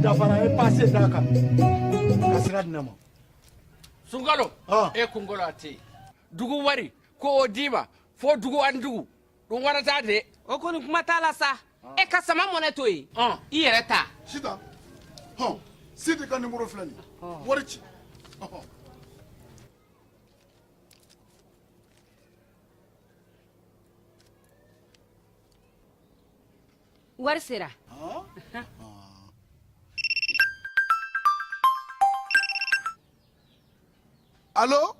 dafara e pase d'a kan ka sira di ne ma sungalo e kunkolo a tɛ yen dugu wari ko o d'i ma fo dugu ani dugu don wɛrɛ t'a de o kɔni kuma t'a la sa ah. e ka sama mɔnɛ to yen i yɛrɛ ta sita hɔn sidi ka nimoro filɛ nin wari ci wari sera alo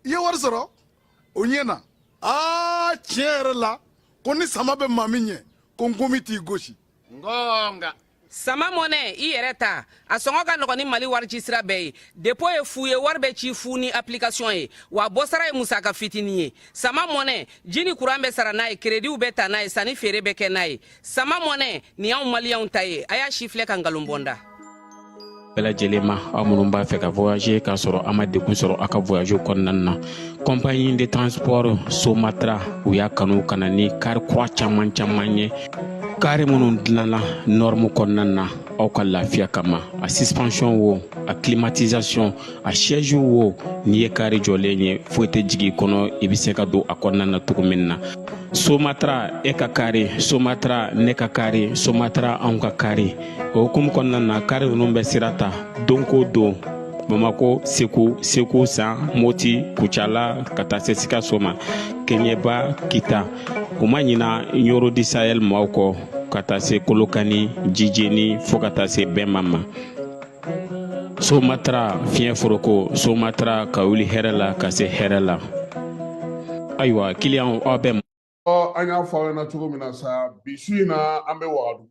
i ye wari sɔrɔ o ɲɛna aa tiɲɛ yɛrɛ la ko ni sama bɛ maa min ɲɛ ko ngɔmi t'i gosi n ko n ka sama mɔnɛ i yɛrɛ ta a sɔngɔ ka nɔgɔn ni mali warici sira bɛɛ ye depo ye fu ye wari bɛ ci fu ni application ye wa bɔsara ye musaka fitini ye sama mɔnɛ ji ni kuran bɛ sara n'a ye kerediw bɛ ta n'a ye sanni feere bɛ kɛ n'a ye sama mɔnɛ nin y'anw maliyɛnw ta ye a y'a sifilɛ ka nkalon bɔ n da bɛɛ lajɛlen ma aw minnu b'a fɛ ka voyager k'a sɔrɔ a ma degun sɔrɔ a ka voyage kɔnɔna na compagnie de transport somatra u y'a kanu ka na ni kari kura caman caman ye kari minnu dilanna nɔrɔmu kɔnɔna na aw ka lafiya kama a suspension wo a climatisation a siège wo n'i ye kari jɔlen ye foyi tɛ jigin kɔnɔ i bɛ se ka don a kɔnɔna na cogo min na somatra e ka kari somatra ne ka kari somatra anw ka kari o hukumu kɔnɔna na kari ninnu bɛ sira ta don ko don bamako segu segu san moti kucala ka taa se sikaso ma keɲeba kita u ma ɲina ɲoro du sahɛl maaw kɔ ka taa se kolokani jijeni fo ka taa se bɛma ma somatra fiɲɛ foroko somatra ka wuli hɛrɛ la ka se hɛrɛ la ayiwa kiliyanw aw bɛ an y'a fɔ aw ɲɛna cogo min na sa bi su in na an bɛ wagadugu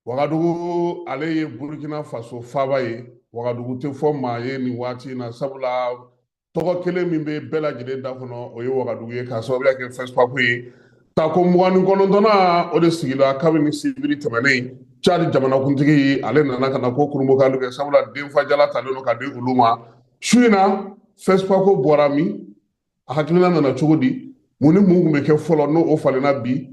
wagadugu ale ye burukina faso faaba ye wagadugu tɛ fɔ maa ye nin waati in na sabula tɔgɔ kelen min bɛ bɛɛ lajɛlen da kɔnɔ o ye wagadugu ye k'a sababuya kɛ fɛsipako ye tako mugan ni kɔnɔntɔnna o de sigila kabini sibiri tɛmɛnen cadi jamanakuntigi ale nana ka na ko kurunbonkari kɛ sabula denfajala talen don ka di olu ma su in na fɛsipako bɔra min a hakilina nana cogo di mun ni mun tun bɛ kɛ fɔlɔ n'o o falenna bi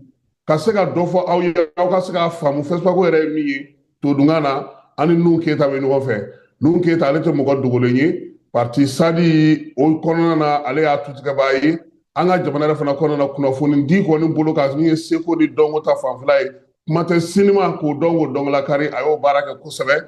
ka se ka dɔ fɔ aw ye aw ka se k'a faamu fɛsipako yɛrɛ ye min ye todunkan na an ni nuhun keyita bɛ ɲɔgɔn fɛ nuhun keyita ale tɛ mɔgɔ dogolen ye parti sadi o kɔnɔna na ale y'a tutigɛbaa ye an ka jamana yɛrɛ fana kɔnɔna na kunnafonidi kɔni bolo kan min ye seko ni dɔnko ta fanfɛla ye kuma tɛ sinimako dɔnko dɔn k'o lakali a y'o baara kɛ kosɛbɛ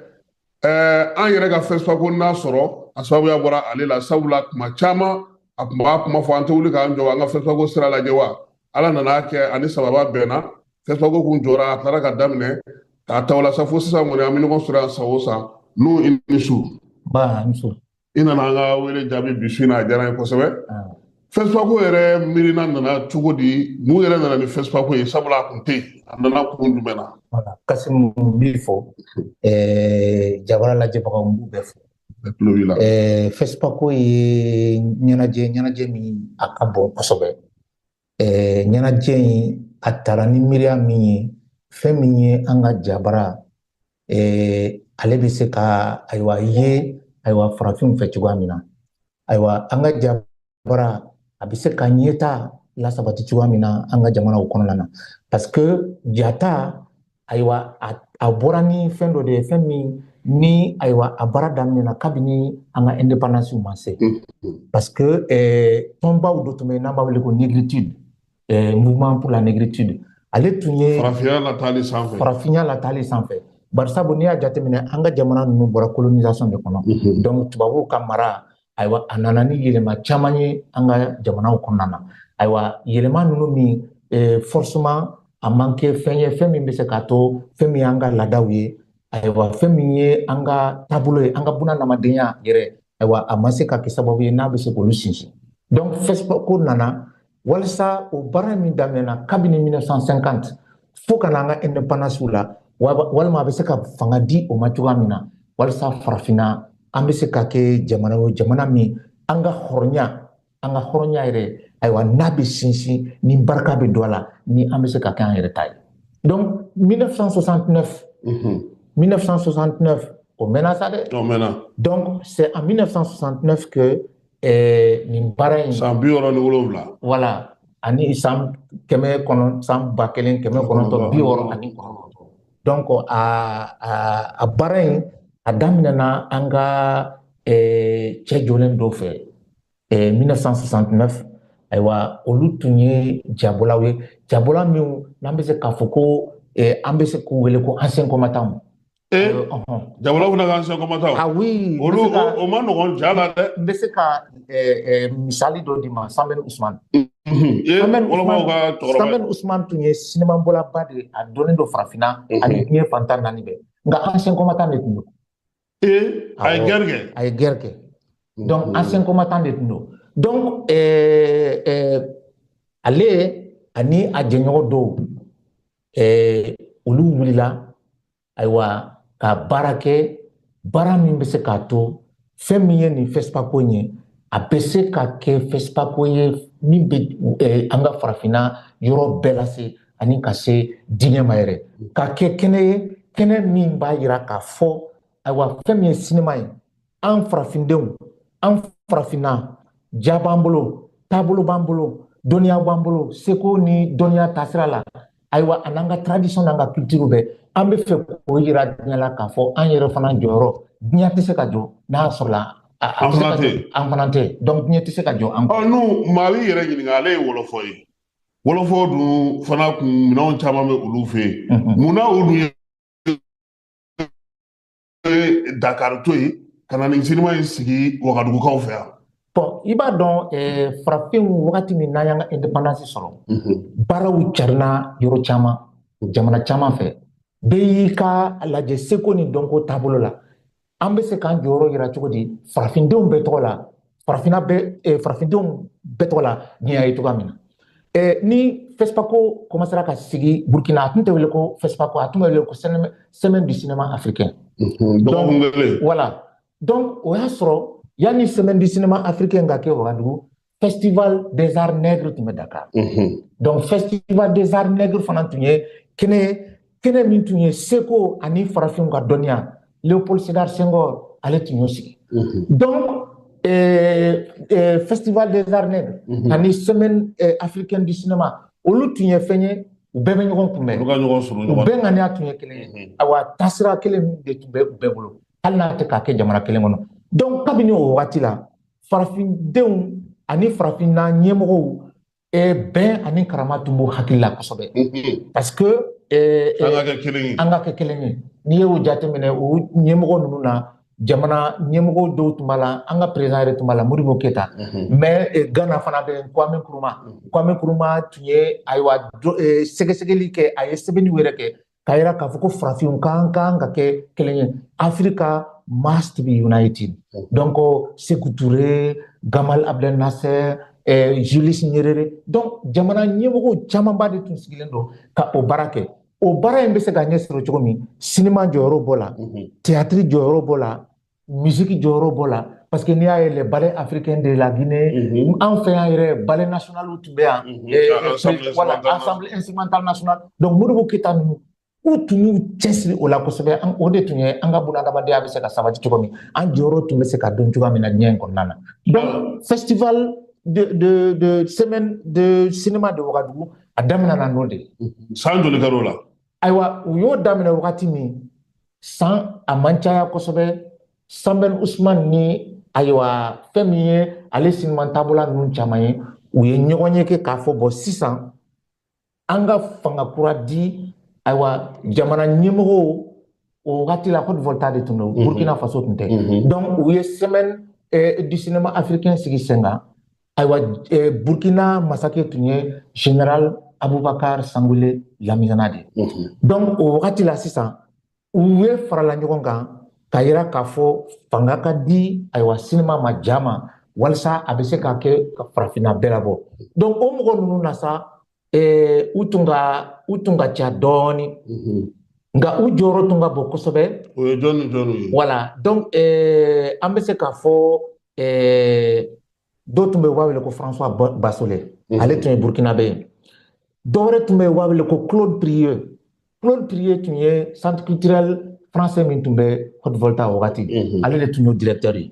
ɛɛ an yɛrɛ ka fɛsipako n'a sɔrɔ a sababuya bɔra ale la sabula kuma caman a tun b'a kuma fɔ an tɛ wuli k'an jɔ an ka fɛsipako sira lajɛ wa ala nan'a kɛ ani sababa bɛnna fɛsipako kun jɔra a taara ka daminɛ k'a ta o la sa fo sisan kɔni an bɛ ɲɔgɔn sɔrɔ yan san o san nuhu i ni su. nba i ni su. i nana an ka wele jaabi bi su in na a diyara n ye kosɛbɛ fɛsipako yɛrɛ miirina nana cogo di mun yɛrɛ nana ni fɛsipako ye sabula a kun tɛ yen a nana kun jumɛn na kasimu n b'i fo jabara lajɛbagaw n b'u bɛɛ fo fɛsipako ye ɲɛnajɛ ɲɛnajɛ min a ka bon kosɛbɛ ɲɛnajɛ in a tara ni miiriya min ye fɛn min ye an ka jabara ale bɛ se ka ayiwa ye ayiwa farafinw fɛ cogoya min na ayiwa an ka jabara a bɛ se ka ɲɛtaa lasabati cogoya min na an ka jamanaw kɔnɔna na parce que jata ayiwa a bɔra ni fɛn dɔ de ye fɛn min ni ayiwa a baara daminɛna kabini an ka indépendance ma se mm-hmm. parce que eh, tɔnbaw dɔ tun bɛ yen n'an b'a wele ko négritude eh, mouvement pour la négritude ale tun ye farafinya latali sanfɛ farafinya latali sanfɛ barisabu n'i y'a jateminɛ an ka jamana ninnu bɔra colonisation de kɔnɔ mm-hmm. donc tubabuw ka mara ayiwa a nana ni yɛlɛma caman ye an ka jamanaw kɔnɔna na ayiwa yɛlɛma ninnu min eh, forcément a ma kɛ fɛn ye fɛn min bɛ se k'a to fɛn min y'an ka laadaw ye ayiwa fɛn min ye an ka taabolo ye an ka bunahadamadenya yɛrɛ ayiwa a ma se ka kɛ sababu ye n'a bɛ se k'olu sinsin donc fɛsipako nana walisa o baara min daminɛna kabini 1950 fo ka na an ka indépendance la walima a bɛ se ka fanga di o ma cogoya min na walisa farafinna an bɛ se ka kɛ jamana o jamana min an ka hɔrɔnya an ka hɔrɔnya yɛrɛ ayiwa n'a bɛ sinsin ni barika bɛ don a la ni an bɛ se ka kɛ an yɛrɛ ta ye donc 1969 1969 o mɛnna sa dɛ o mɛnna donc c'est en 1969 que ɛɛ nin baara in san bi wɔɔrɔ ni wolonwula voilà ani san kɛmɛ kɔnɔ san ba kelen kɛmɛ kɔnɔntɔn bi wɔɔrɔ ani kɔnɔntɔn donc a a a baara in a daminɛna an ka ɛɛ cɛ jɔlen dɔ fɛ ɛɛ 1969 ayiwa olu tun ye jabɔlaw ye jabɔla minnu n'an bɛ se k'a fɔ ko an bɛ se k'u wele ko ancien combattant ee jabɔla fana ka ancien combattant ah oui olu o man nɔgɔn ja la dɛ n bɛ se ka misali dɔ d'i ma sanbɛn usman sanbɛn usman tun ye sinimabɔlaba de ye a dɔnnen don farafinna ani diɲɛ fan tan naani bɛɛ nka ancien combattant de tun don ee a ye guerre kɛ a ye guerre kɛ donc ancien combattant de tun don donc ale ani a jɛɲɔgɔn dɔw ɛɛ olu wulila ayiwa ka baara kɛ baara min bɛ se k'a to fɛn min ye nin fɛsipako in ye a bɛ se ka kɛ fɛsipako ye min bɛ ɛɛ an ka farafinna yɔrɔ bɛɛ lase ani ka se diɲɛ ma yɛrɛ ka kɛ kɛnɛ ye kɛnɛ min b'a yira k'a fɔ ayiwa fɛn min ye sinima ye an farafindenw an farafinna ja b'an bolo taabolo b'an bolo dɔnniya b'an bolo seko ni dɔnniya taasira la ayiwa a n'an ka tradition n'an ka culture bɛɛ an bɛ fɛ k'o yira diɲɛ la k'a fɔ an yɛrɛ fana jɔyɔrɔ diɲɛ tɛ se ka jɔ n'a sɔrɔla an fana tɛ an fana tɛ donc diɲɛ tɛ se ka jɔ an kɔ. n'u maa b'i yɛrɛ ɲininka ale ye wɔlɔfɔ ye wɔlɔfɔ dun fana kun minɛnw caman bɛ olu fɛ yen mun na o dun ye ye dakari to yen ka na nin sinima in sigi wagadugukaw fɛ yan bon i b'a dɔn eh, farafinw wagati min n'an y'an ka indépendance sɔrɔ mhm. baaraw carinna yɔrɔ caman jamana caman fɛ bɛɛ y'i ka lajɛ seko ni dɔnko taabolo la an bɛ se k'an jɔyɔrɔ yira cogo di farafindenw bɛɛ tɔgɔ la farafinna bɛ eh, farafindenw bɛɛ tɔgɔ la n'i y'a ye cogoya min na eh, ni fɛsipako kɔmansera ka sigi burkina a tun tɛ wele ko fɛsipako a tun bɛ wele ko semaine du cinéma africain voilà donc o y'a sɔrɔ yanni semaine du cinéma africain ka kɛ wagadugu festival des arts nègres tun bɛ dakar donc festival des arts nègres fana tun ye kɛnɛ kɛnɛ min tun ye seko ani farafinw ka dɔnniya léopold sédar senghor ale tun y'o sigi mhm. donc eh, eh, festival des arts nègres mhm. ani semaine eh, africaine du cinéma olu tun ye fɛn ye u bɛɛ bɛ ɲɔgɔn kunbɛn u bɛɛ ŋaniya tun ye kelen ye mhm. awa taasira kelen de tun bɛ u bɛɛ bolo hali n'a tɛ ka kɛ jamana kelen kɔnɔ donc kabini o wagati la farafindenw ani farafinna ɲɛmɔgɔw eh, bɛn ani karama tun b'u hakili la kosɛbɛ parce que eh, eh, an ka kɛ kelen ye an ka kɛ kelen ye n'i y'o jateminɛ o ɲɛmɔgɔ ninnu na jamana ɲɛmɔgɔ dɔw tun b'a la an ka président yɛrɛ tun b'a la modibo keyita mais eh, ghana fana bɛ kwame nkrumah kwame nkrumah tun ye ayiwa do- eh, sɛgɛsɛgɛli kɛ a ye sɛbɛnniw yɛrɛ kɛ k'a yira k'a fɔ ko farafinw ka kan ka kɛ kelen ye africa must be united mm. donc seku ture gamal abdel nasser eh, julius nyerere donc jamana ɲɛmɔgɔw camanba de tun sigilen don ka o baara kɛ o baara in bɛ se ka ɲɛ sɔrɔ cogo min sinima jɔyɔrɔ b'o la mm-hmm. teyatiri jɔyɔrɔ b'o la misiki jɔyɔrɔ b'o la parce que n'i y'a ye les ballets africains de la Guinée mhm. an fɛ yan yɛrɛ ballet national tun bɛ yan mhm. eh, eh, voilà ensemble instrumental national donc Modibo Keita ninnu u tun y'u cɛsiri o la kosɛbɛ o de tun ye an ka bunadamadenya bɛ se ka sabati cogo min an jɔyɔrɔ tun bɛ se ka dɔn cogoya min na diɲɛ in kɔnɔna na donc festival de de de semaine de cinéma de Ouagadougou a daminɛna n'o de ye san joli kɛra o la ayiwa u y'o daminɛ wagati min san a man caya kosɛbɛ sanbɛn usman ni ayiwa fɛn min ye ale siniman taabolola ninnu caman ye u ye ɲɔgɔnye kɛ k'a fɔ bon sisan an ka fanga kura di ayiwa jamana ɲɛmɔgɔw o wagati la haute volta de tun don mhm. burkina faso tun tɛ mhm. donc u ye semaine eh, du cinéma africain sigi sen kan ayiwa eh, burkina masakɛ tun ye general abubakar sangule lamizana de ye donc o wagati la sisan u ye farala ɲɔgɔn kan k'a yira k'a fɔ fanga ka di ayiwa sinima ma jama walisa a bɛ se ka kɛ ka farafinna bɛɛ labɔ donc o mɔgɔ ninnu na sa eh, u tun ka u tun ka ca dɔɔni mhm. nka u jɔyɔrɔ tun ka bon kosɛbɛ o ye jɔni jɔni ye voilà donc eh, an bɛ se k'a fɔ eh, dɔ tun bɛ u b'a wele ko françois bassolet mhm. ale tun ye burkinabe ye dɔ wɛrɛ tun bɛ u b'a wele ko claude prieux claude prieux tun ye centre culturel français min tun bɛ haute volta wagati mhm. ale de tun y'o directeur ye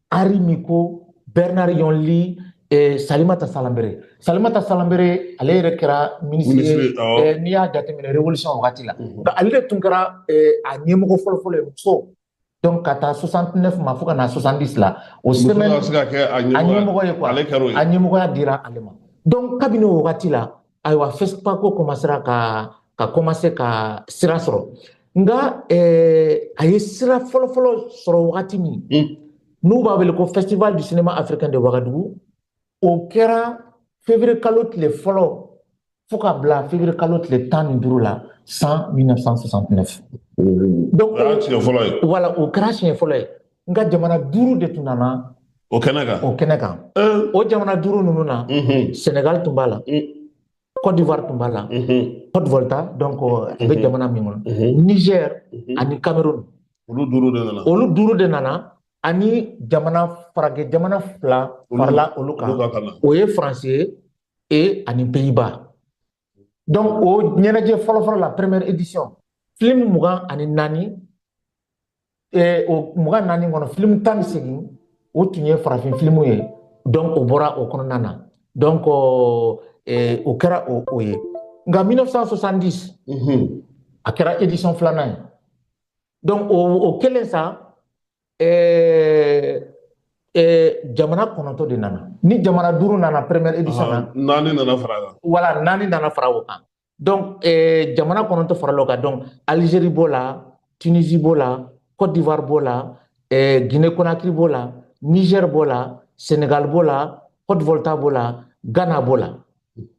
henri micaux bernard yonli eh, salimata salambere salimata salambere ale yɛrɛ kɛra minisiri ye Minisiri, awɔ. eh, n'i y'a jateminɛ révolution wagati la Mhm. Donc, ale de tun kɛra eh, a ɲɛmɔgɔ fɔlɔfɔlɔ ye muso donc ka taa 69 ma fo ka na 70 la o Muso semaine ka se ka kɛ a a ɲɛmɔgɔ ɲɛmɔgɔ ye quoi ale kɛra o ye a ɲɛmɔgɔya dira ale ma donc kabini o wagati la ayiwa fɛsipako kɔmasera ka ka kɔmase ka sira sɔrɔ nka a ye sira fɔlɔfɔlɔ sɔrɔ wagati min n'u b'a wele ko festival du cinéma africain de wagadugu o kɛra février kalo tile fɔlɔ fo ka bila février kalo tile tan ni duuru la san 1969 donc o y'a siɲɛ fɔlɔ ye voilà o kɛra siɲɛ fɔlɔ ye nka jamana duuru de tun nana o kɛnɛ kan o kɛnɛ kan o jamana duuru ninnu na senegal tun b'a la Côte d'Ivoire tun b'a la Haute-Volta donc a bɛ jamana min kɔnɔ Niger ani Cameroun olu duuru de nana olu duuru de nana ani jamana farajɛ jamana fila farala olu kan o ye France ye e ani Pays-Bas donc o ɲɛnajɛ fɔlɔfɔlɔ la première édition film mugan ani naani eh, o mugan naani kɔnɔ film tan ni segin o tun ye farafin filimu ye donc o bɔra o kɔnɔna na donc eh, o kɛra o o ye nka 1970 mm -hmm. a kɛra édition filanan ye donc o o kelen sa Eh, eh, jamana kɔnɔntɔ de nana ni jamana duuru nana première édition na naani nana fara kan voilà naani nana fara o kan donc eh, jamana kɔnɔntɔ farala o kan donc algérie b'o la tunisie b'o la côte d'ivoire b'o la eh, guinée conakry b'o la niger b'o la sénégal b'o la haute volta b'o la ghana b'o la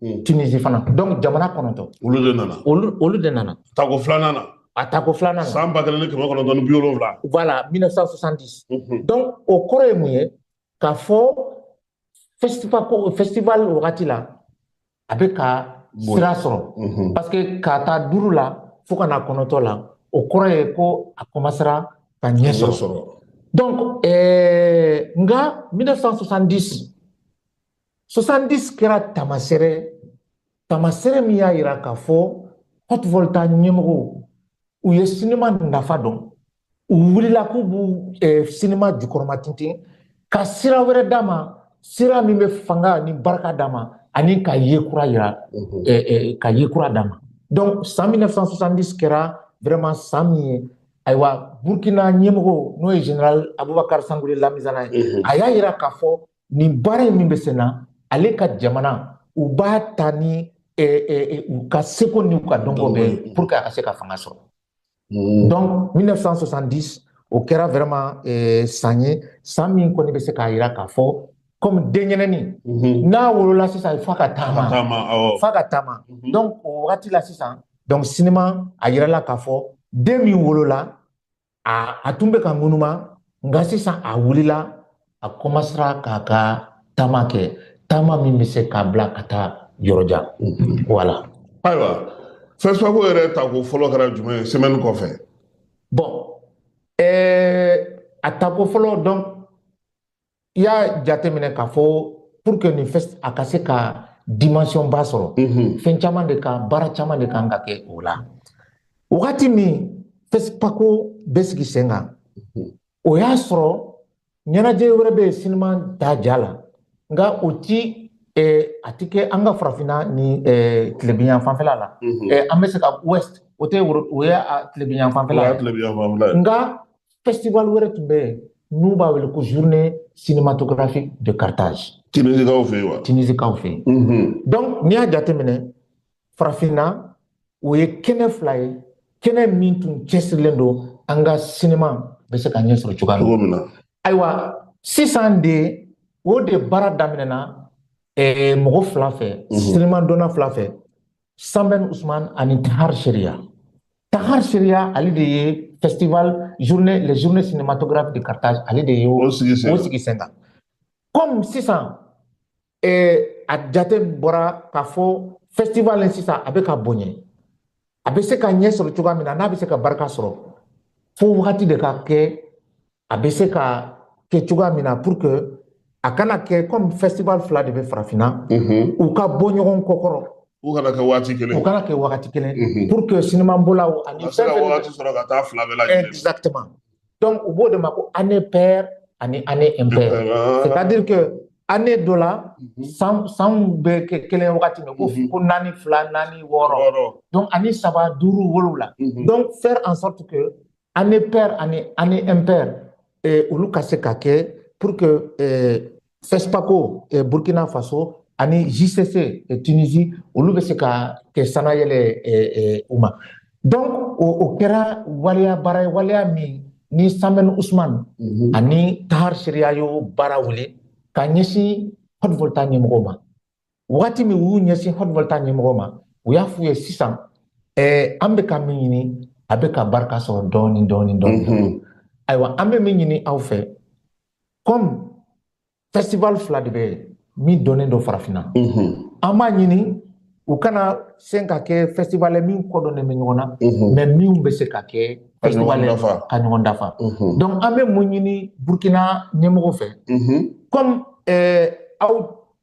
Mhm. Tunisie fana donc jamana kɔnɔntɔ olu de nana olu olu de nana tako filanan na a tako filanan na san ba kelen ni kɛmɛ kɔnɔntɔn ni bi wolonwula voilà 1970 Mhm. donc o kɔrɔ ye mun ye k'a fɔ festival ko festival wagati la a bɛ ka Bon. sira sɔrɔ Mhm. parce que k'a ta duuru la fo ka na kɔnɔntɔ la o kɔrɔ ye ko a kɔmansera ka ɲɛ sɔrɔ donc ɛɛ nka 1970 70 kɛra tamasere tamasere min y'a yira k'a fɔ haute volta ɲɛmɔgɔw u ye sinima nafa dɔn u wulila k'u b'u eh, sinima jukɔrɔmatintin ka sira wɛrɛ d'a ma sira min bɛ fanga ni barika d'a ma ani ka ye kura yira mhm. eh, eh, ka ye kura d'a ma donc san 1970 kɛra vraiment san min ye ayiwa burkina ɲɛmɔgɔ n'o ye général aboubacar sangoulé lamizana ye mhm. a y'a yira k'a fɔ nin baara in min bɛ sen na ale ka jamana u b'a ta ni u ka seko ni u ka dɔnko bɛɛ ye pour que a ka se ka fanga sɔrɔ mm. donc 1970 o kɛra vraiment san ye san min kɔni bɛ se k'a yira k'a fɔ comme denyɛrɛni mm-hmm. n'a wolola sisan f'a ka taama f'a ka taama mm-hmm. donc o wagati la sisan donc sinima a yirala k'a fɔ den min wolola a a tun bɛ ka ŋunuma nka sisan a wulila a kɔmansera k'a ka taama kɛ taama min bɛ se k'a bila ka taa yɔrɔ jan voilà ayiwa fespaco yɛrɛ tako fɔlɔ kɛra jumɛn ye semaine kɔfɛ bon ɛɛ a tako fɔlɔ donc i y'a jateminɛ k'a fɔ pour que nin fɛs a ka se ka dimension ba sɔrɔ mhm. fɛn caman de kan baara caman de kan ka kɛ o la wagati min fespaco bɛ sigi sen kan mhm. o y'a sɔrɔ ɲɛnajɛ wɛrɛ bɛ yen sinima da ja la nka o ti eh, a ti kɛ an ka farafinna ni eh, tilebinyan fanfɛla la mhm. eh, an bɛ se ka ouest o tɛ o ye tilebinyan fanfɛla ye nka festival wɛrɛ tun bɛ yen n'u b'a wele ko journée cinématographique de Carthage. Tinisikaw fɛ yen wa? Tinisikaw fɛ yen. Mm -hmm. Donc n'i y'a jateminɛ farafinna o ye kɛnɛ fila ye kɛnɛ min tun cɛsirilen don an ka sinima bɛ se ka ɲɛ sɔrɔ cogoya cogo min na. Ayiwa sisan de o de baara daminɛna eh, mɔgɔ fila fɛ mm -hmm. sinima dɔnna fila fɛ sanbɛn usman ani tahar cheriaa tahar cheriaa ale de ye festival journée les journées cinématographiques de carthage ale de ye o sigi sen kan comme sisan eh, a jate bɔra k'a fɔ festival in sisan a bɛ ka bonya a bɛ se ka ɲɛ sɔrɔ cogoya min na n'a bɛ se ka barika sɔrɔ fo wagati de ka kɛ a bɛ se ka kɛ cogoya min na pour que a kana kɛ comme festival fila de bɛ farafinna mhm. u ka bɔ ɲɔgɔn kɔkɔrɔ u kana kɛ waati kelen u kana kɛ waati kelen mhm. pour que sinimabɔlaw ani fɛn fɛn waati sɔrɔ ka taa fila bɛɛ lajɛlen exactement donc u b'o de ma ko année paire ani année impaire ah. c'est à dire que année dɔ la mhm. san sanw bɛ kɛ kelen wagati min ko mhm. ko naani fila naani wɔɔrɔ donc ani saba duuru wolowula donc faire en sorte que année paire ani année impaire eh, olu ka se ka kɛ pour que eh, FESPACO eh, Burkina Faso ani JCC eh, Tunisie olu bɛ se ka kɛ sanayɛlɛ eh, eh, u ma donc o, o kɛra waleya baara ye waleya min ni Sembène Ousmane mm -hmm. ani Tahar Cheriaa y'o baara wuli ka ɲɛsin Haute-Volta ɲɛmɔgɔw ma wagati min u y'u ɲɛsin Haute-Volta ɲɛmɔgɔw ma u y'a f'u ye sisan eh, an bɛ ka min ɲini a bɛ ka barika sɔrɔ dɔɔni dɔɔni dɔɔni mhm. ayiwa an bɛ min ɲini aw fɛ comme festival fila de bɛ min dɔnnen don farafinna mhm. an b'a ɲini u kana se ka kɛ festival ye minw kɔdonnen bɛ ɲɔgɔn na mhm. mais minw bɛ se ka kɛ festival ye ka ɲɔgɔn dafa donc an bɛ mun ɲini burkina ɲɛmɔgɔw fɛ comme eh, aw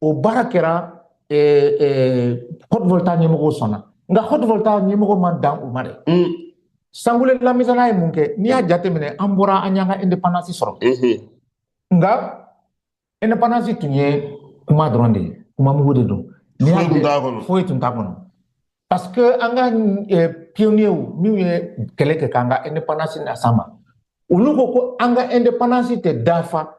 o baara kɛra Haute-Volta ɲɛmɔgɔw sɔnna nka Haute-Volta ɲɛmɔgɔw ma dan o ma dɛ sangoulé lamizana ye mun kɛ n'i y'a jateminɛ an bɔra an y'an ka indépendance sɔrɔ nka indépendance tun ye kuma dɔrɔn de ye kuma mugu de don foyi tun t'a kɔnɔ parce que an ka pionniers minnu ye kɛlɛ kɛ k'an ka indépendance las'an ma olu ko ko an ka indépendance tɛ dafa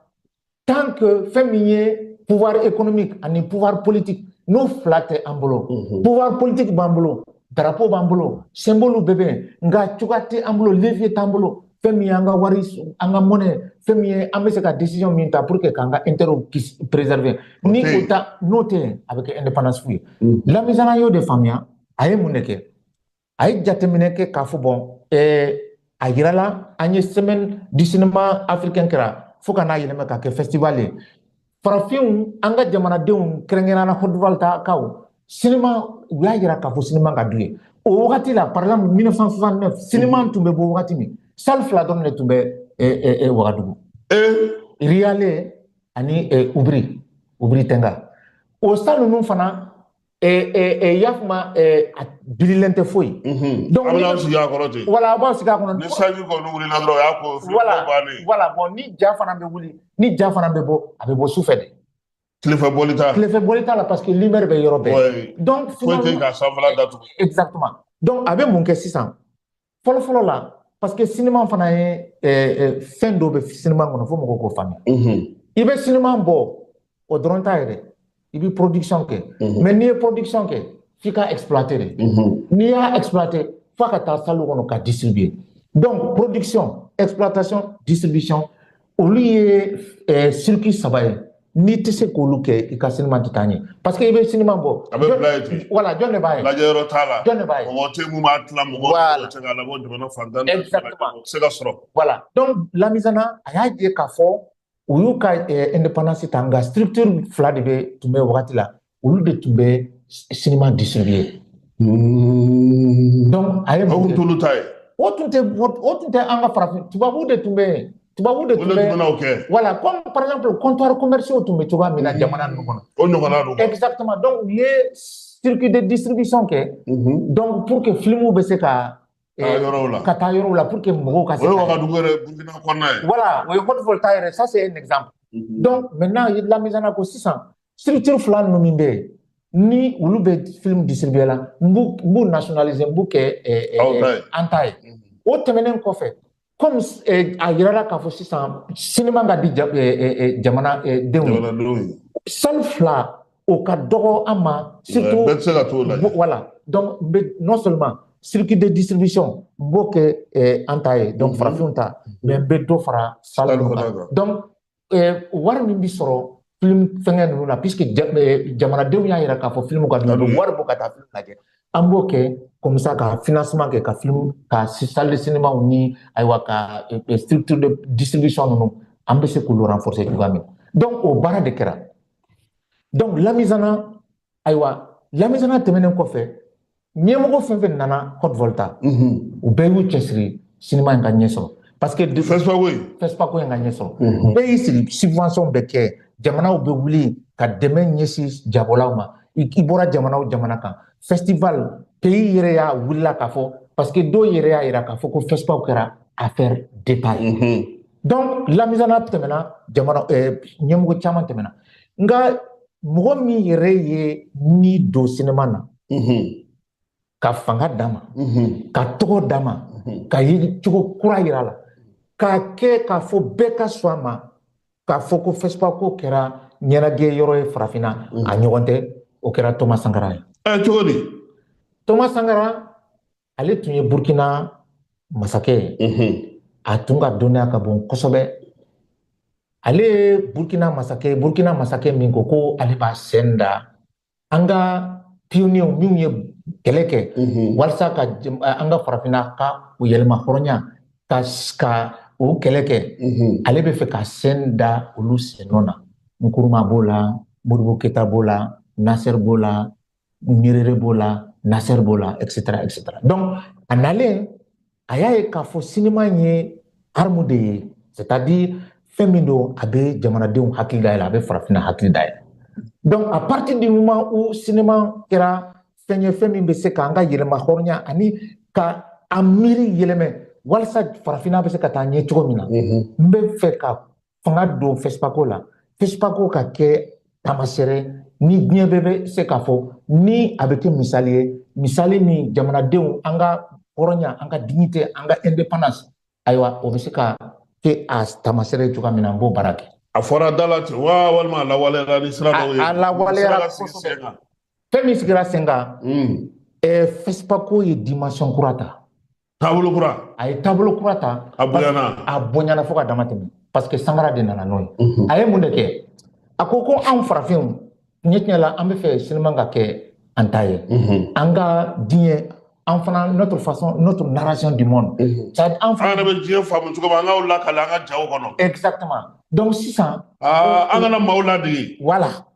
tant que fɛn min ye pouvoir économique ani pouvoir politique n'o fila tɛ an bolo mhm. pouvoir politique b'an bolo darapo b'an bolo symbole bɛɛ bɛ yen nka cogoya tɛ an bolo levier t'an bolo fɛn min ye an ka wari an ka monnaie fɛn min ye an bɛ se ka décision min ta pour que k'an ka intérêt kisi préserver ni o ta n'o tɛ yen a bɛ kɛ indépendance fu ye mhm. lamizana y'o de faamuya a ye mun de kɛ a ye jateminɛ kɛ k'a fɔ bon a yirala an ye semaine du cinéma africain kɛra fo ka n'a yɛlɛma ka kɛ festival ye farafinw an ka jamanadenw kɛrɛnkɛrɛnnenya Haute-Volta kaw sinima u y'a yira k'a fɔ sinima ka d'u ye o wagati la par exemple 1969 sinima tun bɛ bɔ wagati min salle fila dɔrɔn de tun bɛ wagadugu riyale ani ubiri ubiri tenga o salle ninnu fana i y'a faamu a bililen tɛ foyi donc an bɛna sigi a kɔrɔ ten voilà a b'a sigi a kɔnɔ ni sanji kɔni wulila dɔrɔn o y'a ko voilà voilà bon ni ja fana bɛ wuli ni ja fana bɛ bɔ a bɛ bɔ sufɛ de tilefɛ bɔli t'a tilefɛ bɔli t'a la parce que lumière bɛ yɔrɔ bɛɛ donc foyi tɛ ka sanfɛla datugu exactement donc a bɛ mun kɛ sisan fɔlɔfɔlɔ la parce que sinima fana ye fɛn dɔ bɛ sinima kɔnɔ fo mɔgɔw k'o faamuya i bɛ sinima bɔ o dɔrɔn t'a ye dɛ i bɛ production kɛ mais n'i ye production kɛ f'i ka exploiter de n'i y'a exploiter f'a ka taa salle kɔnɔ ka distribuer donc production exploitation distribution olu ye eh, circuit saba ye n'i tɛ se k'olu kɛ i ka sinima tɛ taa ɲɛ parce que i bɛ sinima bɔ a bɛ bila yen ten voilà jɔn de b'a ye lajɛyɔrɔ t'a la jɔn de b'a ye mɔgɔ tɛ mun b'a tila mɔgɔ Voilà. tɛ se k'a labɔ jamana fan tan ni naani bɛɛ lajɛlen, o tɛ se ka sɔrɔ voilà donc lamizana a y'a ye k'a fɔ u y'u ka eh, indépendance ta nka structure fila de bɛ tun bɛ wagati la olu de tun bɛ sinima distribuer donc a ye mun kɛ t'olu ta ye o tun tɛ o tun tɛ an ka farafin tubabuw de tun bɛ yen tubabu de tun bɛ voilà comme par exemple comptoirs commerciaux tun bɛ cogoya min na jamana ninnu kɔnɔ o ɲɔgɔnna don exactement donc u ye circuit de distribution kɛ donc pour que filimuw bɛ se ka ka taa yɔrɔw la pour que mɔgɔw ka se o ye wagadugu yɛrɛ burukina kɔnɔna ye voilà o ye haute volta yɛrɛ ça c'est un exemple donc maintenant i lamizana ko sisan structure fila ninnu min bɛ yen ni olu bɛ film distribuer la n b'u n b'u nationaliser n b'u kɛ an ta ye o tɛmɛnen kɔfɛ comme a yirala k'a fɔ sisan sinima ka di jamana denw ye salle fila o ka dɔgɔ an ma surtout bɛɛ tɛ se ka t'o la voilà donc non seulement circuit de distribution n b'o kɛ an ta ye donc farafinw ta mais n bɛ dɔ fara salle ninnu kan donc eh, wari min bi sɔrɔ film fɛngɛ ninnu na puisque eh, jamanadenw y'a yira k'a fɔ film ka di u bɛ wari bɔ ka taa film lajɛ an b'o kɛ comme ça ka financement kɛ ka film ka salle de cinéma ni ayiwa ka eh, structure de distribution ninnu an bɛ se k'olu renforcer cogoya min donc o baara de kɛra donc lamizana ayiwa lamizana tɛmɛnen kɔfɛ ɲɛmɔgɔ fɛn fɛn nana haute volta u bɛɛ y'u cɛsiri sinima in ka ɲɛ sɔrɔ parce que fespaco in fespaco in ka ɲɛ sɔrɔ bɛɛ y'i cɛsiri subvention bɛ kɛ jamanaw bɛ wuli ka dɛmɛ ɲɛsin jabɔlaw ma i bɔra jamana o jamana kan festival pays yɛrɛ y'a wulila k'a fɔ parce que dɔw yɛrɛ y'a yira k'a fɔ ko fespaco kɛra affaire d'état ye donc lamizana tɛmɛna jamana ɲɛmɔgɔ caman tɛmɛna nka mɔgɔ min yɛrɛ ye ni don sinima na ka fanga d'a ma ka tɔgɔ d'a ma ka yecogo kura yira la k'a kɛ k'a fɔ bɛɛ ka sɔn a ma k'a fɔ ko fɛsipako kɛra ɲɛnajɛ yɔrɔ ye farafinna a ɲɔgɔn tɛ o kɛra tɔma sankara ye cogo di tɔma sankara ale tun ye burkina masakɛ ye a tun ka dɔnniya ka bon kosɛbɛ ale ye burkina masakɛ burkina masakɛ min ko ko ale b'a sen da an ka pionniers minnu ye kɛlɛ kɛ walasa ka an ka farafinna ka u yɛrɛmahɔrɔnya ka ka o kɛlɛ kɛ ale bɛ fɛ ka sen da olu sennɔ na nkuruma b'o la modibo keyita b'o la nasɛri b'o la Nyerere b'o la Nasser b'o la etc etc donc a nalen a y'a ye k'a fɔ sinima ye arme de ye c'est à dire fɛn min don a bɛ jamanadenw hakili dayɛlɛ a bɛ farafinna hakili dayɛlɛ donc à partir du moment où sinima kɛra fɛn ye fɛn min bɛ se k'an ka yɛrɛmahɔrɔnya ani ka an miiri yɛlɛmɛ walasa farafinna bɛ se ka taa ɲɛ cogo min na n bɛ fɛ ka fanga don fɛsipako la fɛsipako ka kɛ taamasɛrɛ ni diɲɛ bɛɛ bɛ se k'a fɔ ni a bɛ kɛ misali ye misali min jamanadenw an ka hɔrɔnya an ka dignité an ka indépendance ayiwa o bɛ se ka kɛ a taamasɛrɛ ye cogoya min na n b'o baara kɛ a fɔra da la ten wa walima a lawaleyara ni sira dɔw ye a lawaleyara kosɛbɛ fɛn min sigira sen kan fɛsipako ye dimension kura ta taabolo kura a ye taabolo kura ta a bonyana a bonyana fo ka dama tɛmɛ parce que sankara de nana n'o ye a ye mun de kɛ a ko ko anw farafinw tiɲɛ tiɲɛ la an bɛ fɛ sinima ka kɛ an ta ye an ka diɲɛ an fana notre façon notre narration du monde c'est an fana yɛrɛ bɛ diɲɛ faamu cogo min an k'o lakali an ka jaw kɔnɔ exactement donc sisan an kana maaw ladege voilà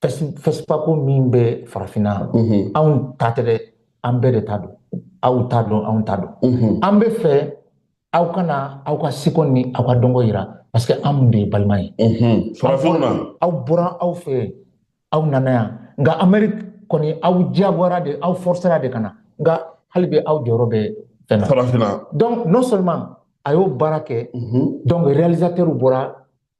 fɛsipako min bɛ farafinna anw ta tɛ dɛ an bɛɛ de ta don aw ta don anw ta don an bɛ fɛ aw ka na aw ka seko ni aw ka dɔnko yira parce que anw de ye balima ye aw bɔra aw fɛ aw nana yan nka ameriki kɔni aw diyagoyara de aw forcera de ka na nka hali bi aw jɔyɔrɔ bɛ fɛn na farafinna donc non seulement a y'o baara kɛ donc réalisateurs bɔra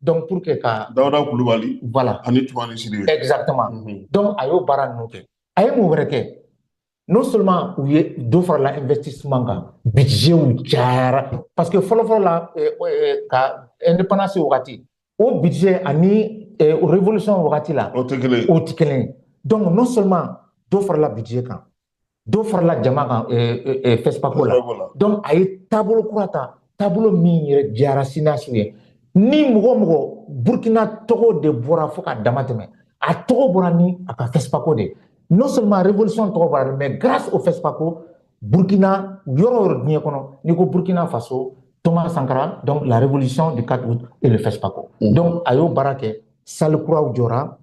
donc pour que ka dawuda kulubali voilà ani tumani sidibe exactement mm -hmm. donc a y'o baara ninnu kɛ a ye mun wɛrɛ kɛ non seulement u ye dɔ farala investissement kan budgetw cayara parce que fɔlɔfɔlɔ la eh, eh, ka indépendance wagati o budget ani eh, révolution wagati la o tɛ kelen o tɛ kelen donc non seulement dɔ farala budget kan dɔ farala jama kan fɛsipako la donc a ye taabolo kura ta taabolo min yɛrɛ diyara cinéastew ye ni mɔgɔ mɔgɔ burkina tɔgɔ de bɔra fo ka dama tɛmɛ a tɔgɔ bɔra ni a ka fɛsipako de non seulement révolution tɔgɔ bɔra dɛ mais grâce au fɛsipako burkina yɔrɔ o yɔrɔ diɲɛ kɔnɔ n'i ko burkina faso thomas sankara donc la révolution du 4 août et le fɛsipako mm. donc a y'o baara kɛ salle kuraw jɔra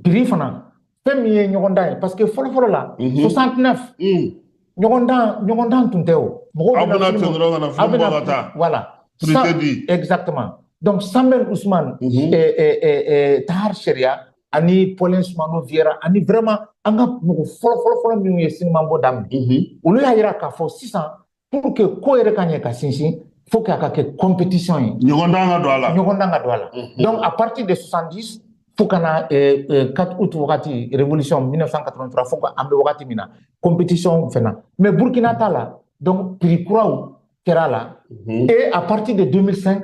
prix fana fɛn min ye ɲɔgɔndan ye parce que fɔlɔfɔlɔ la 69 ɲɔgɔndan ɲɔgɔndan tun tɛ o mɔgɔw aw bɛ na ten dɔrɔn ka na film bɔ ka taa voilà prix tɛ di exactement donc sembène ousmane tahar cheriaa ani paulin soumanou vieyra ani vraiment an ka mɔgɔ fɔlɔfɔlɔfɔlɔ minnu ye sinimabɔ daminɛ olu y'a yira k'a fɔ sisan pour que ko yɛrɛ ka ɲɛ ka sinsin faut que a ka kɛ compétition ye ɲɔgɔndan ka don a la ɲɔgɔndan ka don a la mhm. donc à partir de 70 fo ka na 4 eh, eh, août wagati révolution 1983 fo an bɛ wagati min na compétition fɛnɛ mais burkina t'a la donc prix kuraw kɛra a la mhm. et à partir de 2005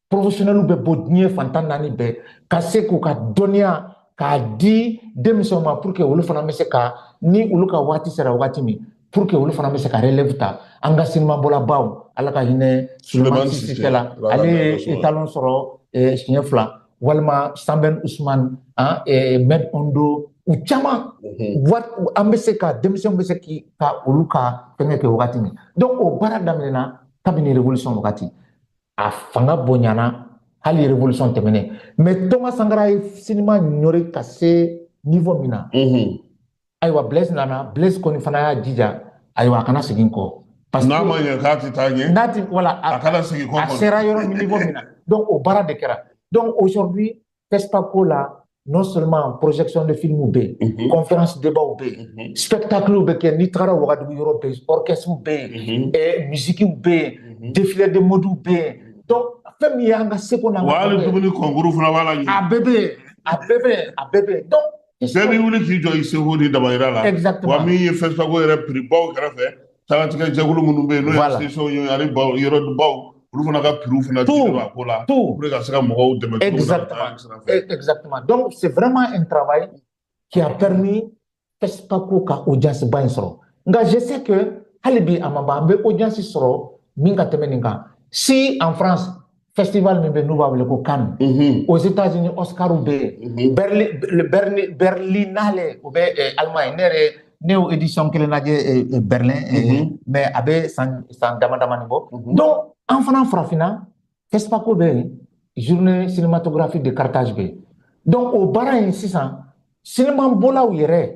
porofesiyonɛliw bɛ bɔ diɲɛ fan tan naani bɛɛ ka se k'u ka dɔnniya k'a di denmisɛnw ma pour que olu fana bɛ se ka ni olu ka waati sera waati min pour que olu fana bɛ se ka relève ta an ka sinimabɔlabaw ala ka hinɛ sulemani sise la ale ye étalon sɔrɔ eh, siɲɛ fila walima sanbɛn usumani ah, eh, med hondo u caman mhm. an bɛ se ka denmisɛnw bɛ se ka olu ka fɛngɛ kɛ wagati min donc o baara daminɛna kabini révolution wagati a fanga bonyana hali révolution tɛmɛnen mais toma sankara ye sinima ɲɔri ka se niveau min na mhm. ayiwa blaise nana blaise kɔni fana y'a jija ayiwa a kana segin kɔ n'a ma ɲɛ k'a tɛ taa ɲɛ n'a ti voilà a kana segin kɔ a sera yɔrɔ min niveau min na donc o baara de kɛra donc aujourd'hui FESPACO la non seulement projection de films bɛ yen mm -hmm. conférence débat bɛ yen mm -hmm. spectacle bɛ kɛ n'i taara wagadugu yɔrɔ bɛ yen orchestre bɛ yen mm -hmm. eh, musique bɛ yen mm -hmm. défilé de mode bɛ yen donc fɛn min y'an ka seko n'an ka hali dumuni concours fana b'a la a bɛɛ bɛ yen a bɛɛ bɛ yen a bɛɛ bɛ yen donc bɛɛ bɛ wuli k'i jɔ i seko ni damayira la exactement wa min ye FESPACO yɛrɛ prix baw kɛrɛfɛ Tagatigɛ jɛkulu minnu bɛ yen n'o ye sesɔn ye ani baw yɔrɔ baw olu fana ka pw fana a ko la ka se ka mɔgɔw dɛmɛ dɔw senfɛma in taba ye cɛyara ni tɛp ko ka o jasiba in sɔrɔ nka zse kɛ hali bi a maba an bɛ o jasi sɔrɔ min ka tɛmɛ nin kan si an fana festival min bɛ n'u b'a wele ko Cannes mhm. aux États-Unis Oscar bɛ yen mhm. Berlin Berlin Berlinale o bɛ eh, Allemagne ne yɛrɛ ne y'o édition kelen lajɛ eh, eh, Berlin mhm. mais a bɛ san san damadamanin bɔ donc an fana farafinna FESPACO bɛ yen journée cinématographique de Carthage bɛ yen donc o baara in sisan sinimabɔlaw yɛrɛ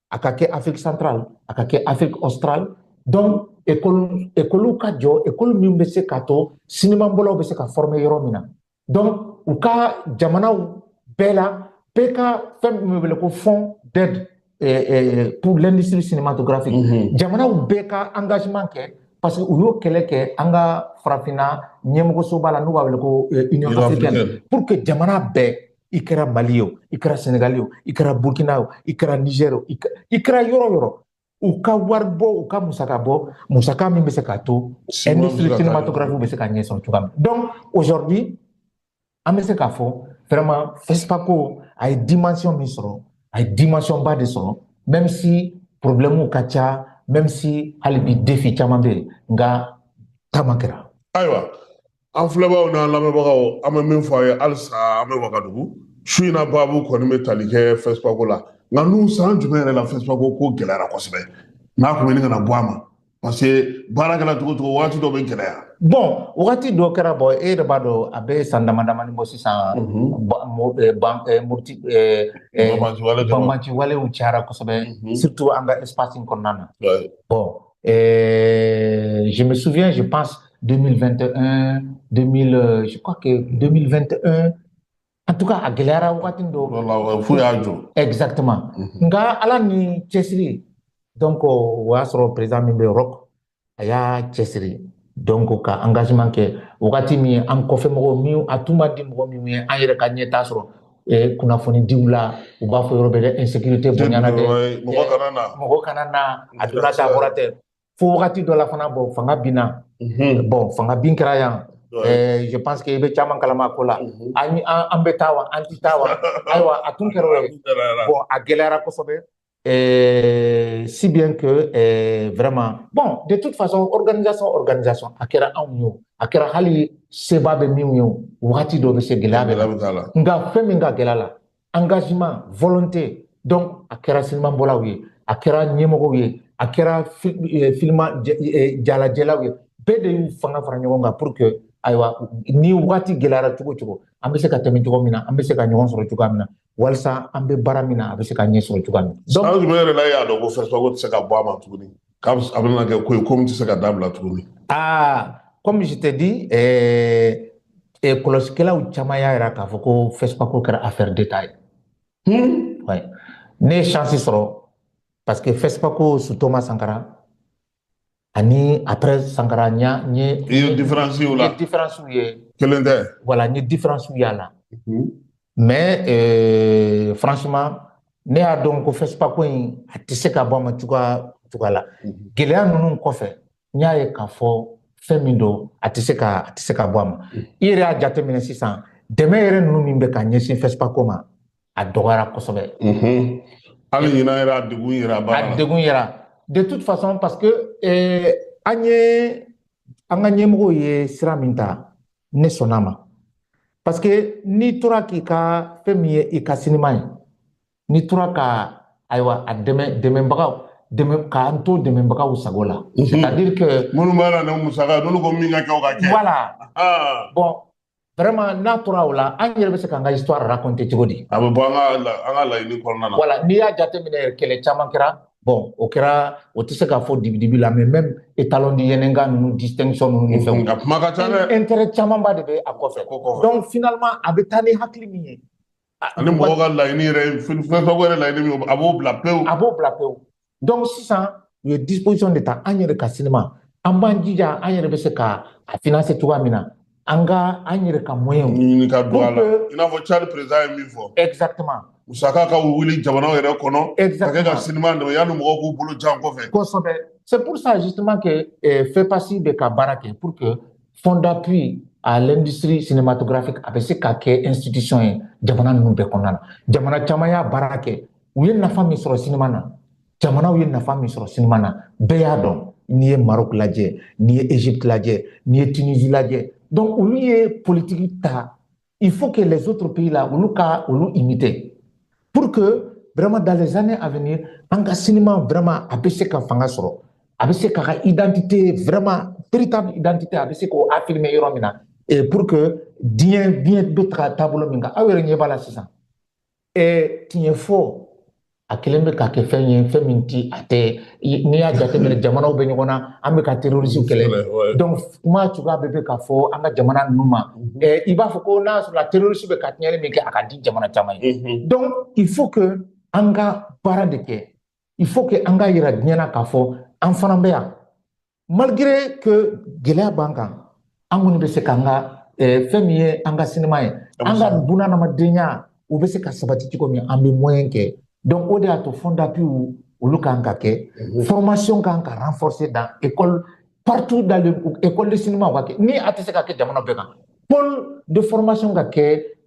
a ka kɛ afrique centrale a ka kɛ afrique australe donc ekɔli ekɔliw ka jɔ ekɔli min bɛ se k'a to sinimabɔlaw bɛ se ka fɔrɔme yɔrɔ min na donc u ka jamanaw bɛɛ la bɛɛ ka fɛn min bɛ wele ko fond d'aide eh, eh, pour l'industrie cinématographique mm -hmm. jamanaw bɛɛ ka engagement kɛ parce que u y'o kɛlɛ kɛ an ka farafinna ɲɛmɔgɔsoba la n'u b'a wele ko eh, union africaine pour que jamana bɛɛ i kɛra mali ye o i kɛra senegali o i kɛra burkina o i kɛra niger o i kɛra yɔrɔ yɔrɔ u ka wari bɔ u ka musaka bɔ musaka min bɛ se k'a to industrie cinématographique bɛ se ka ɲɛ sɔrɔ cogoya min donc aujourd'hui an bɛ se k'a fɔ vraiment fɛsipako a ye dimension min sɔrɔ a ye dimension ba de sɔrɔ même si problème ka ca même si hali bi défi caman bɛ yen nka taama kɛra ayiwa an filɛbaaw n'an lamɛnbagaw an bɛ min fɔ aw ye halisa an bɛ wagadugu su in na baabu kɔni bɛ tali kɛ fɛsipako la nka n'u san jumɛn yɛrɛ la fɛsipako ko gɛlɛyara kosɛbɛ n'a tun bɛ ɲini ka na bɔ a ma parce que baara kɛra cogo cogo waati dɔ bɛ gɛlɛya bon wagati dɔ kɛra bon e yɛrɛ b'a dɔn a bɛ san dama damani bɔ sisan banbanciwalew cayara kosɛbɛ surtout an ka espace kɔnɔna na bon Et je me souviens, je pense, 2021, 2000, euh, je crois que 2021, en tout cas, à Guélara, Exactement. Mhm. Nga ala ni cɛsiri donc o y'a sɔrɔ président min bɛ Europe a y'a cɛsiri donc ka engagement kɛ wagati min ye an kɔfɛ mɔgɔw min a tun man di mɔgɔ min ye an yɛrɛ ka ɲɛtaa sɔrɔ eh, kunnafonidiw la u b'a fɔ yɔrɔ bɛ dɛ insécurité bonyana dɛ mɔgɔ eh, kana na mɔgɔ kana na a donna t'a bɔra tɛ fo wagati dɔ la fana bon fanga binna mhm. bon fanga bin kɛra yan eh, je pense que i bɛ caman kalama ko la mhm. an bɛ taa wa an tɛ taa wa ayiwa a tun kɛra o ye bon a gɛlɛyara kosɛbɛ Et si bien que eh, vraiment bon de toute façon organisation organisation a kɛra anw ye o a kɛra hali seba bɛ minnu ye o wagati dɔ bɛ se gɛlɛya b'a la nka fɛn min ka gɛlɛn a la engagement volonté donc a kɛra sinimabɔlaw ye a kɛra ɲɛmɔgɔw ye a kɛra eh, filima eh, jalajɛlaw ye bɛɛ de y'u fanga fara ɲɔgɔn kan pour que ayiwa ni wagati gɛlɛyara cogo cogo an bɛ se ka tɛmɛ cogo min na an bɛ se ka ɲɔgɔn sɔrɔ cogoya min na walasa an bɛ baara min na a bɛ se ka ɲɛ sɔrɔ cogoya min na. san jumɛn yɛrɛ la e y'a dɔn ko fɛsipako tɛ se ka bɔ a ma tuguni k'a bɛ a bɛna kɛ ko ye ko min tɛ se ka dabila tuguni. aa comme je t'ai dit ɛɛ eh, kɔlɔsikɛlaw eh, caman y'a jira k'a fɔ ko fɛsipako kɛra affaire d'État ye. Hmm? ne ye chance sɔrɔ parce que fɛsipako sous thomas sankara ani après sankara n y'a n ye i ye différence y'o la n ye différence ye kelen tɛ voilà n ye différence y'a la mais euh, franchement ne y'a dɔn ko fɛsipako in a tɛ se ka bɔ a ma cogoya cogoya la gɛlɛya ninnu kɔfɛ n y'a ye k'a fɔ fɛn min don a tɛ se ka a tɛ se ka bɔ a ma i yɛrɛ y'a jateminɛ sisan dɛmɛ yɛrɛ ninnu min bɛ ka ɲɛsin fɛsipako ma a dɔgɔyara kosɛbɛ hali ɲina yɛrɛ a degun yera baara la a degun yera de toute façon parce que eh, an ye an ka ɲɛmɔgɔw ye sira min ta ne sɔnna a ma parce que n'i tora k'i ka fɛn min ye i ka sinima ye n'i tora ka ayiwa a dɛmɛ dɛmɛbagaw dɛmɛ k'an to dɛmɛbagaw sago la c'est à dire que minnu b'a la n'o musaka n'olu ko min ka kɛ o ka kɛ voilà ah. bon vraiment n'a tora o la an yɛrɛ bɛ se k'an ka histoire raconter cogo di a bɛ bɔ an ka an ka laɲini kɔnɔna na voilà n'i y'a jateminɛ yɛrɛ kɛlɛ caman kɛra bon o kɛra o tɛ se ka fɔ dibidibi la mais même étalon de Yennenga ninnu distinction ninnu ni fɛnw a kuma ka ca dɛ intérêt camanba de bɛ a kɔfɛ donc finalement a bɛ taa ni hakili min ye ani mɔgɔ ka laɲini yɛrɛ fɛn fɛn yɛrɛ laɲini min a b'o bila pewu a b'o bila pewu donc sisan u ye disposition de ta an yɛrɛ ka sinima an b'an jija an yɛrɛ bɛ se ka a financer cogoya min na an ka an yɛrɛ ka moyen ɲini ka don a la i n'a fɔ Tchad président ye min fɔ exactement musaka ka wuli jamanaw yɛrɛ kɔnɔ ka kɛ ka sinima dɛmɛ yanni mɔgɔw k'u bolo jan kɔfɛ kosɛbɛ c'est pour ça justement que eh, FEPACI bɛ ka baara kɛ pour que fond d'appui à l'industrie cinématographique a bɛ se ka kɛ institution ye jamana ninnu bɛɛ kɔnɔna na jamana caman y'a baara kɛ u ye nafa min sɔrɔ sinima na jamanaw ye nafa min sɔrɔ sinima na bɛɛ y'a dɔn n'i ye Maroc lajɛ n'i ye Égypte lajɛ n'i ye Tunisie lajɛ donc olu ye politiki ta il faut que les autres pays là olu ka olu imiter pour que vraiment dans les années à venir an ka sinima vraiment a bɛ se ka fanga sɔrɔ a bɛ se ka ka identité vraiment véritable identité a bɛ se k'o affirmer yɔrɔ min na et pour que diɲɛ diɲɛ bɛ taga taabolo min kan aw yɛrɛ ɲɛ b'a la sisan tiɲɛ fɔ a kelen bɛ ka kɛ fɛn ye fɛn min ti a tɛ n'i y'a jateminɛ jamanaw bɛ ɲɔgɔn na an bɛ ka terrorisiw kɛlɛ donc kuma cogoya bɛɛ bɛ ka fɔ an ka jamana ninnu ma i b'a fɔ ko n'a sɔrɔla terrorisiw bɛ ka tiɲɛni min kɛ a ka di jamana caman ye donc il faut que an ka baara de kɛ il faut que an k'a yira diɲɛ na k'a fɔ an fana bɛ yan malgré que gɛlɛya b'an kan an kɔni bɛ se k'an ka eh, fɛn min ye an ka sinima ye an ka bunadamadenya u bɛ se ka sabati cogo min an bɛ moyen kɛ donc o de y'a to fonds d'appui olu kan ka kɛ mhm. formation kan ka renforcer dans école partout dans l'école de cinéma ka kɛ ni a tɛ se ka kɛ jamana bɛɛ kan pôle de formation ka kɛ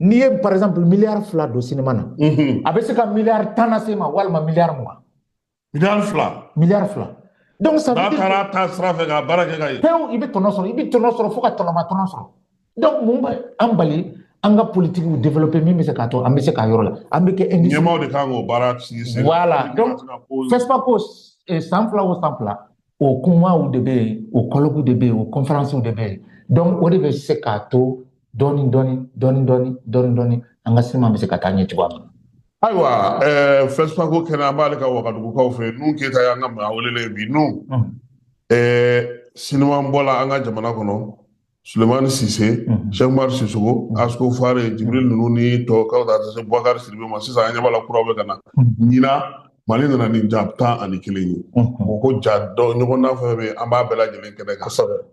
n'i ye par exemple miliyari fila don sinima na a bɛ se ka miliyari tan nase i ma walima miliyari mugan miliyari fila miliyari fila donc ça n'a taara taa sira fɛ ka baara kɛ ka ɲɛ pewu i bɛ tɔnɔ sɔrɔ i bɛ tɔnɔ sɔrɔ fo ka tɔnɔma tɔnɔ sɔrɔ donc mun bɛ an bali an ka politikiw développer min bɛ se k'a to an bɛ se k'a yɔrɔ la an bɛ kɛ industrie ɲɛmaaw de kan k'o baara sigi sen voilà donc FESPACO san fila o san fila o kumaw de bɛ yen o colloque de bɛ yen o conférencew de bɛ yen donc o de bɛ se k'a to dɔɔni dɔɔni dɔɔni dɔɔni dɔɔni dɔɔni an ka sinima bɛ se ka taa ɲɛ cogoya min na. ayiwa ɛɛ Fespaco kɛnɛ an b'ale kan wagadugukaw fɛ yen nuhun keyita y'an ka maa welelen ye bi nuhun ɛɛ sinimabɔla an ka jamana kɔnɔ sulemani sise sɛki umaru sisɔkɔ askofare jibril ninnu ni tɔw ka taa se bubakari sidibe ma sisan an ɲɛ b'a la kura bɛ ka na ɲina mali nana ni ja tan ani kelen ye o ko ja dɔ ɲɔgɔn na fɛn bɛ an b'a bɛɛ lajɛlen kɛnɛ kan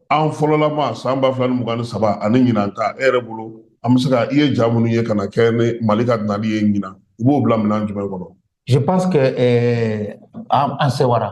an fɔlɔlama san ba fila ni mugan ni saba ani ɲinan ta e yɛrɛ bolo an bɛ se ka i ye ja minnu ye ka na kɛ ni mali ka nali ye ɲinan i b'o bila minɛn jumɛn kɔnɔ je pense que eh, an sɛwara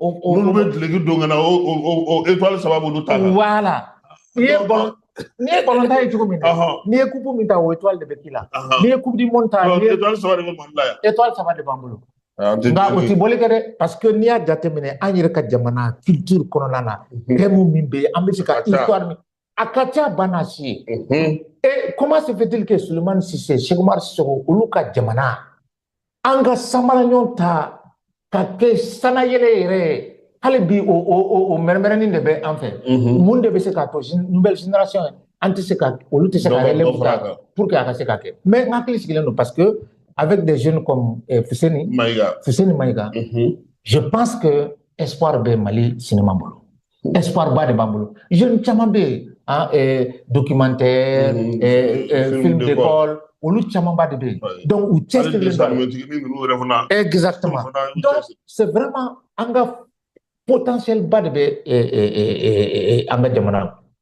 n'olu bɛ duloki don ka na o étoile saba b'olu ta la voilà n'i ye n'i ye balontan ye cogo min na n'i ye coupe min ta o étoile de bɛ k'i la n'i ye coupe du monde ta étoile saba de bɛ mali la yan étoile saba de b'an bolo nka o tɛ bɔli kɛ dɛ parce que n'i y'a jateminɛ an yɛrɛ ka jamana culture kɔnɔna na thème min bɛ yen an bɛ se ka histoire min a ka ca bana si ye et comment se fait-il que sulemani sise sɛki umaru sisɔkɔ olu ka jamana an ka sanbalaɲɔ ta ka kɛ sanayɛlɛ yɛrɛ ye hali bi o o o o mɛrɛmɛrɛnin de bɛ an fɛ mhm. mun de bɛ se k'a to nouvelle génération an tɛ se ka olu tɛ se ka yɛlɛ mun kan pour que a ka se ka kɛ mais n hakili sigilen don parce que avec des jeunes comme eh, Fuseni Maïga Fuseni Maïga mhm. je pense que espoir bɛ Mali cinéma bolo espoir ba de b'an bolo jeune caman bɛ yen en documentaire film d'école olu camanba de bɛ yen donc u cɛsirilen don exactement donc c'est vraiment an ka potentiel ba de bɛ an ka jamana na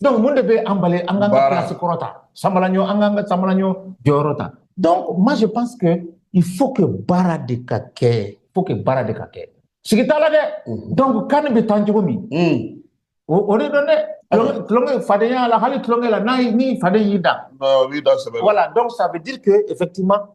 donc mun de bɛ an bali an k'an ka place kɔrɔ ta sanbalaɲɔ an k'an ka sanbalaɲɔ jɔyɔrɔ ta donc moi je pense que il faut que baara de ka kɛ il faut que baara de ka kɛ sigi t'a la dɛ mm. donc CAN bɛ tan cogo min mm. o de don dɛ tulon tɛ fadenya la hali tulonkɛ la n'i faden y'i da voilà donc ça veut dire que effectivement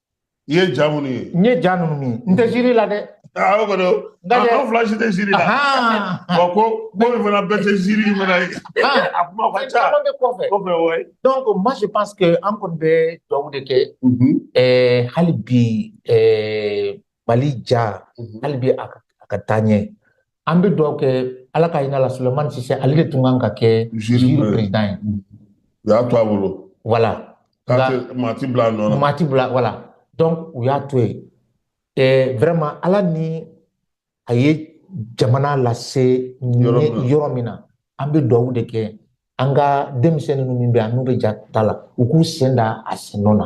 i ye ja minnu ye n ye ja ninnu ye n tɛ jury la dɛ aa o kɔni an fila si tɛ jury la wa ko ko min fana bɛɛ tɛ jury in fana ye a kuma ka ca caman bɛ kɔfɛ kɔfɛ wa donc moi je pense que an kɔni bɛ dugawu de kɛ ɛɛ hali bi ɛɛ mali ja hali bi a ka taa ɲɛ an bɛ dugawu kɛ ala ka hinɛ la sulemani sise ale de tun kan ka kɛ jury président ye u y'a to a bolo voilà maa ti bila a nɔ na maa ti bila voilà donc u y'a to yen eh, vraiment ala ni a ye jamana lase yɔrɔ min na an bɛ dugawu de kɛ an ka denmisɛnnin ninnu min bɛ yan n'u bɛ ja ta la u k'u sen da a sen nɔ na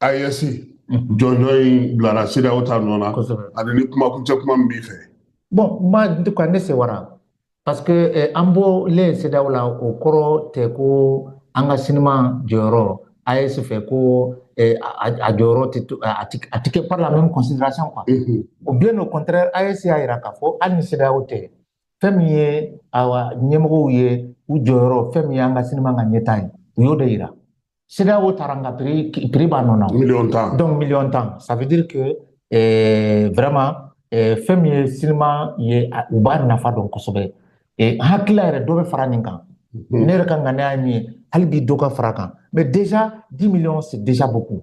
AES jɔnjɔn in bilara CEDEAO ta nɔ na ani ni kumakuncɛ kuma min b'i fɛ. Bon moi en tout cas ne sewara parce que eh, an bɔlen CEDEAO la o kɔrɔ tɛ ko an ka sinima jɔyɔrɔ AES fɛ ko eh, a jɔyɔrɔ tɛ to a tɛ kɛ par la même considération quoi. Mm -hmm. Ou bien au contraire AES y'a yira k'a fɔ hali ni CEDEAO tɛ fɛn min ye awa ɲɛmɔgɔw ye u jɔyɔrɔ fɛn min ye an ka sinima ka ɲɛta ye u y'o de yira CEDEAO taara nka prix b'a nɔ na miliyɔn tan donc miliyɔn tan ça veut dire que eh, vraiment eh, fɛn min ye sinima ye u b'a nafa dɔn kosɛbɛ eh, hakilila yɛrɛ dɔ bɛ fara nin kan mhm. ne yɛrɛ ka ŋaniya ye min ye hali bi dɔ ka fara kan mais déjà 10 millions c'est déjà beaucoup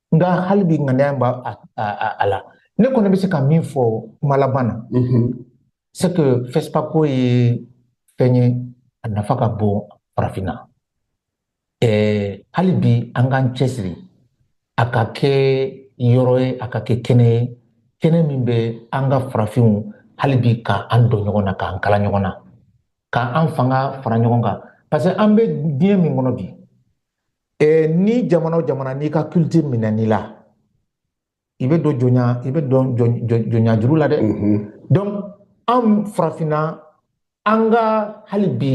nka hali bi ŋaniya b'a la ne kɔni bɛ se ka min fɔ kuma laban na c'est que FESPACO ye fɛn ye a nafa ka bon farafinna hali bi an k'an cɛsiri a ka kɛ yɔrɔ ye a ka kɛ kɛnɛ ye kɛnɛ min bɛ an ka farafinw hali bi ka an don ɲɔgɔn na k'an kala ɲɔgɔn na ka an fanga fara ɲɔgɔn kan parce que an bɛ diɲɛ min kɔnɔ bi eh, ni jamana o jamana n'i ka culture minɛn'i la i bɛ don jɔnya i bɛ don jɔnya juru la dɛ mhm. donc an farafinna an ka hali bi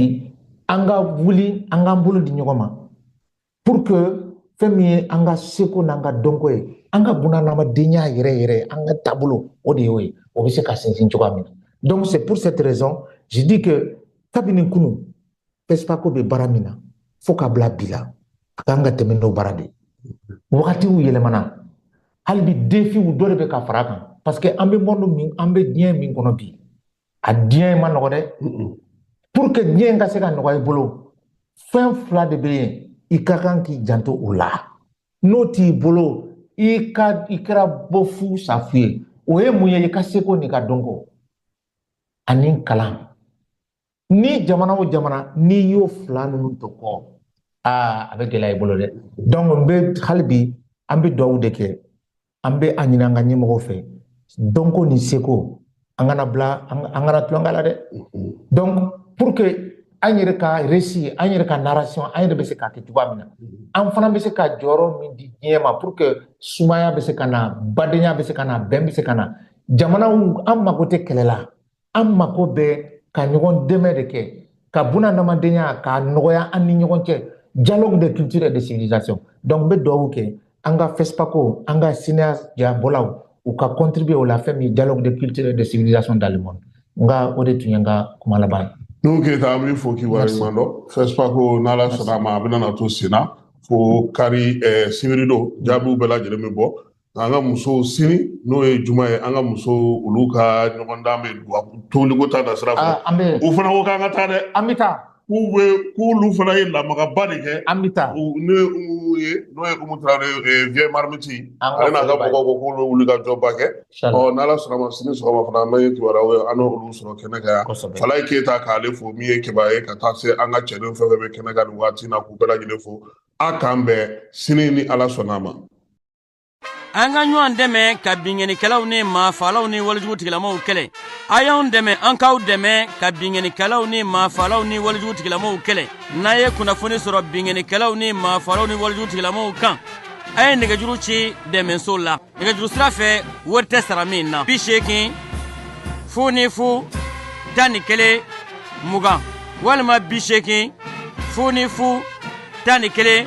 an ka wuli an k'an bolo di ɲɔgɔn ma pour que fɛn min ye an ka seko n'an ka dɔnko ye an ka bunahadamadenya yɛrɛ yɛrɛ an ka taabolo o de y'o ye o bɛ se ka sinsin cogoya min na donc c'est pour cette raison je dis que kabini kunun FESPACO bɛ baara min na fo ka bila bi la a kan ka tɛmɛ n'o baara de ye wagatiw yɛlɛmana hali bi défiw dɔ de bɛ ka fara a kan parce que an bɛ monde min an bɛ diɲɛ min kɔnɔ bi a diɲɛ ma nɔgɔ dɛ pour que diɲɛ ka se ka nɔgɔya i bolo fɛn fila de bɛ yen i ka kan k'i janto o la n'o t'i bolo i ka i kɛra bɔ fu sa fu ye o ye mun ye i ka seko n'i ka dɔnko ani kalan ni jamana o jamana n'i y'o fila ninnu to kɔ aa a bɛ gɛlɛya i bolo dɛ donc n bɛ hali bi an bɛ dugawu de kɛ an bɛ a ɲini an ka ɲɛmɔgɔw fɛ dɔnko ni seko an kana bila an kana tulon k'a la dɛ mm-hmm. donc pour que an yɛrɛ ka récit an yɛrɛ ka narration an yɛrɛ bɛ se k'a kɛ cogoya min na mm-hmm. an fana bɛ se ka jɔyɔrɔ min di diɲɛ ma pour que sumaya bɛ se ka na badenya bɛ se ka na bɛn bɛ se ka na jamanaw an mago tɛ kɛlɛ la an mako bɛ ka ɲɔgɔn dɛmɛ de kɛ ka bunadamadenya k'a nɔgɔya an ni ɲɔgɔn cɛ dialogue de culture et de civilisation donc n bɛ dugawu kɛ an ka FESPACO an ka cinéastes jabɔlaw u ka contribuer o la fɛn min dialogue de culture et de civilisation dans le monde n ka o de tun ye n ka kuma laban ye Nuhu Keyita an b'i fo k'i waleɲuman dɔn FESPACO n'Ala sɔnna a ma a bɛna na to senna fo kari eh, sibiridon jaabiw bɛɛ lajɛlen bɛ bɔ an ka musow sini n'o ye juma ye an ka musow olu ka ɲɔgɔndan bɛ tobiliko ta da sira fɛ ah, u fana ko k'an ka taa dɛ an bɛ taa k'u bɛ k'olu fana ye lamagaba de kɛ an bɛ taa ne ye n'o ye Umu Tarawele eh, vieux Marmite ale n'a ka mɔgɔw ko k'olu bɛ wuli ka jɔba kɛ ɔ n'Ala sɔnna a ma sini sɔgɔma fana an bɛ kibaruyaw ye an n'olu sɔrɔ kɛnɛ kan yan Falayi Keyita k'ale fo min ye kibaruya ye ka taa se an ka cɛdenw fɛn fɛn bɛ kɛnɛ kan nin waati in na k'u bɛɛ lajɛlen fo a k'an bɛn sini ni Ala sɔnna a ma an ka ɲɔgɔn dɛmɛ ka binkannikɛlaw ni maafalaw ni walijugu tigilamaw kɛlɛ a y'an dɛmɛ an k'aw dɛmɛ ka binkannikɛlaw ni maafalaw ni walijugu tigilamaw kɛlɛ n'a ye kunnafoni sɔrɔ binkannikɛlaw ni maafalaw ni walijugu tigilamaw kan a ye nɛgɛjuru ci dɛmɛso la nɛgɛjuru sira fɛ wari tɛ sara min na bi seegin fu ni fu tan ni kelen mugan walima bi seegin fu ni fu tan ni kelen